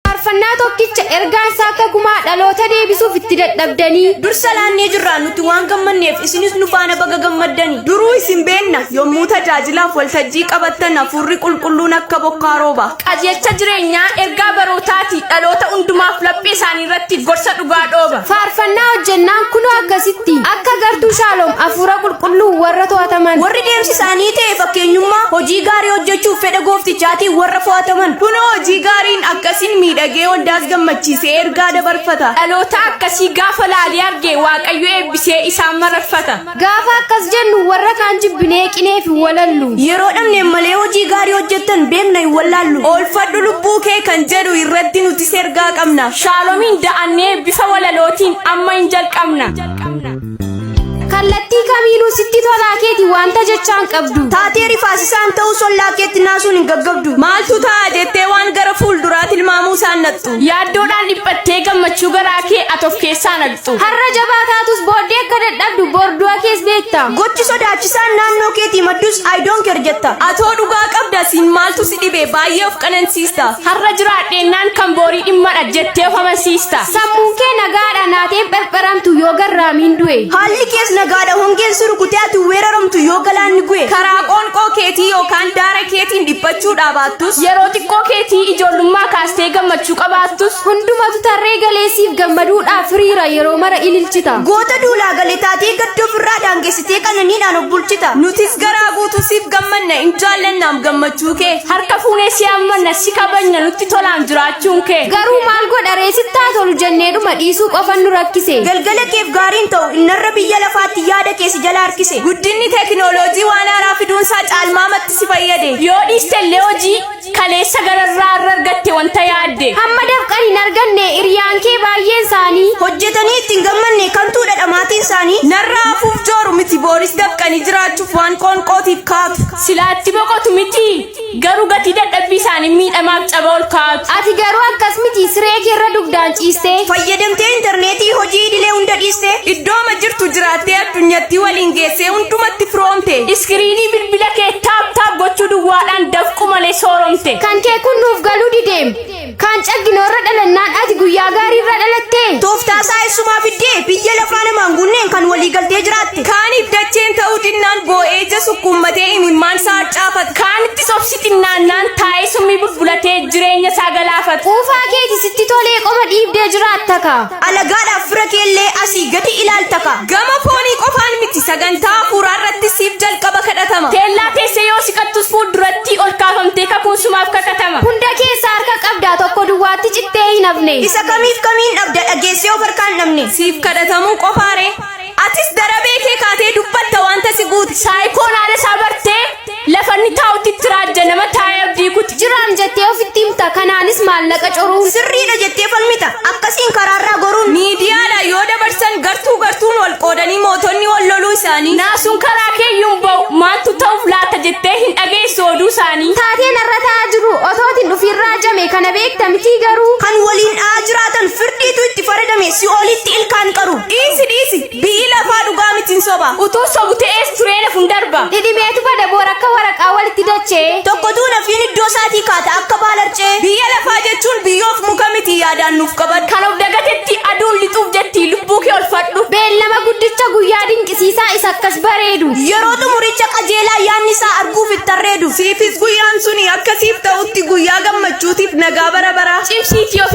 Faarfannaa tokkicha ergaan isaa akka gumaa dhaloota deebisuuf itti dadhabdanii. Dur salaannee jirra nuti waan gammanneef isinis nu faana baga gammaddani. Duruu isin beenna yommuu tajaajilaaf waltajjii qabattan hafuurri qulqulluun akka bokkaa rooba. Qajeelcha jireenyaa ergaa barootaati dhaloota hundumaaf laphee isaanii irratti gorsa dhugaa dhooba. Faarfannaa hojjennaan kunoo akkasitti akka gartuu shaaloom hafuura qulqulluu warra to'ataman. Warri deemsi isaanii ta'e fakkeenyummaa hojii gaarii hojjechuuf fedha gooftichaatiin warra fo'ataman. Kunoo hojii gaariin akkasiin miidhagee waldaas gammachiisee ergaa dabarfata. Dhaloota akkasii gaafa laalee arge Waaqayyo eebbisee isaan mararfata. Gaafa akkas jennu warra kaan jibbinee qinee fi walallu. Yeroo dhabne malee hojii gaarii hojjettan beekna hin wallaallu. Oolfadhu lubbuu kee kan jedhu irratti nutis ergaa qabna. Shaalomiin da'annee bifa walalootiin amma hin jalqabna. Kallattii kamiinuu sitti tolaa keeti wanta jechaan qabdu. Taatee rifaasisaan ta'uu sollaa keetti naasuun hin gaggabdu. Maaltu ta'a jettee waan gara fuulduraa tilmaamuu isaan nattu. Yaaddoodhaan dhiphattee gammachuu garaa kee ati of keessaa naqxu. Har'a jabaa taatus booddee akka dadhabdu bordu'a kees beekta. Gochi sodaachisaan naannoo keetii maddus I don't care jetta. Atoo dhugaa qabda siin maaltu si dhibe baay'ee of qanansiista. Har'a jiraadheennaan kan boorii dhimmadha jettee of amansiista. Sammuun kee nagaadha naateen pherpheramtu yoo garraamiin du'e. Haalli kees nagaadha hongeen si rukutee ati weeraramtu yoo galaanni gu'e. Karaa qoonqoo keetii yookaan daara keetiin dhiphachuu dhaabaattus. Yeroo xiqqoo keetii ijoollummaa kaasee. Tee gammachuu qabaattus hundumatu tarree galee siif gammaduudhaaf hiriira yeroo mara ililchita. Goota duulaa gale taatee gadda ofirraa daangessitee qananiidhaan of bulchita. Nutis garaa guutuu siif gammanna in jaallannaam gammachuu kee. Harka fuunee si hammanna si kabajna nutti tolaam jiraachuun kee. Garuu maal godha ree sitti haa tolu jenneedhuma dhiisuu qofan nu rakkise. Galgala keef gaariin ta'u innarra biyya lafaatti yaada kee si jala harkise. Guddinni teekinooloojii waan haaraa fiduunsaa caalmaamatti si fayyade. Yoo dhiiste illee hojii. kaleessa gararraa irra argatte wanta yaadde hamma dafqan hin arganne hiriyaan kee baay'een isaanii hojjetanii itti hin gammanne kantuudha dhamaatiin isaanii narraa hafuuf jooru miti booris dafqanii jiraachuuf waan qoonqootiif kaatu silaatti boqotu miti garuu gatii dadhabbii isaanii miidhamaaf caba ol kaa'atu ati garuu akkas miti siree kee irra dugdaan ciistee fayyadamtee intarneetii hojii idilee hunda dhiiste iddooma jirtu jiraattee addunyatti waliin geessee hundumatti firoomte iskiriinii bilbila kee taap taap gochuu duwwaadha Oromiyaan dafqu malee sooromte. Kan kee kun nuuf galuu dideem. Kaan caggino irra dhalannaan ati guyyaa gaarii irra dhalattee. Tooftaa isaa eessumaa fiddee biyya lafaa namaan gunneen kan walii galtee jiraatte. Kaaniif dacheen ta'uu dinnaan boo'ee ija sukkuummatee imimmaan isaa harcaafata. Kaanittis obsi xinnaannaan taa'ee summii bulbulatee jireenya isaa galaafata. Quufaa keeti sitti tolee qoma dhiibdee jiraatta kaa. Alagaadhaaf fira keellee asii gadi ilaaltaka. Gama foonii qofaan miti sagantaa hafuuraa irratti siif jalqaba kadhatama. Teellaa teessee yoo siqattus fuuldurattii ol kaafamtee kakuun sumaaf kakatama. Hunda keessaa harka qabdaa tokko duwwaatti cittee hin hafne. Isa kamiif kamiin dhabda dhageessee of harkaan dhabne. Siif kadhatamuu qofaaree? Atis darabee kee kaatee dubbatta wanta si guute. Saayikoon haala isaa bartee lafa inni taa'utti itti raajja nama taa'ee abdii kuti. Jiraam jettee ofitti himta kanaanis maallaqa coruun. Sirriidha jettee falmita akkasiin karaarraa goruun. Miidiyaadhaan yoo dabarsan gartuu gartuun wal qoodanii mootonni wal loluu isaanii. Naasuun karaa keeyyuu hin ba'u maaltu ta'uuf laata jettee hin dhageessu oduu isaanii. Taatee narra ta'aa jiru otootiin dhufiin raajame kana beekta mitii garuu. Kan waliin dha'aa jiraatan firdiitu itti faradame si'oolitti ilkaan qaru. Dhiisi dhiisi bi'ii lafaa dhugaa miti hin soba. Utuu sobu ta'ees turee laf hin darba. Dhidhimeetu bada boor akka waraqaa walitti dachee. Tokko duuna fiin iddoo isaatii kaata akka baalarcee. Biyya lafaa jechuun biyyoof muka miti yaadaan nuuf qabadhu. Kan of dagatetti aduun lixuuf jetti lubbuu kee olfadhu. Beellama guddicha guyyaa dinqisiisaa isa akkas bareedu. Yeroo xumuricha qajeelaa yaanni isaa arguuf itti arreedu. Siifis guyyaan suni akka siif ta'utti guyyaa gammachuutiif nagaa bara baraa. Cimsiitii of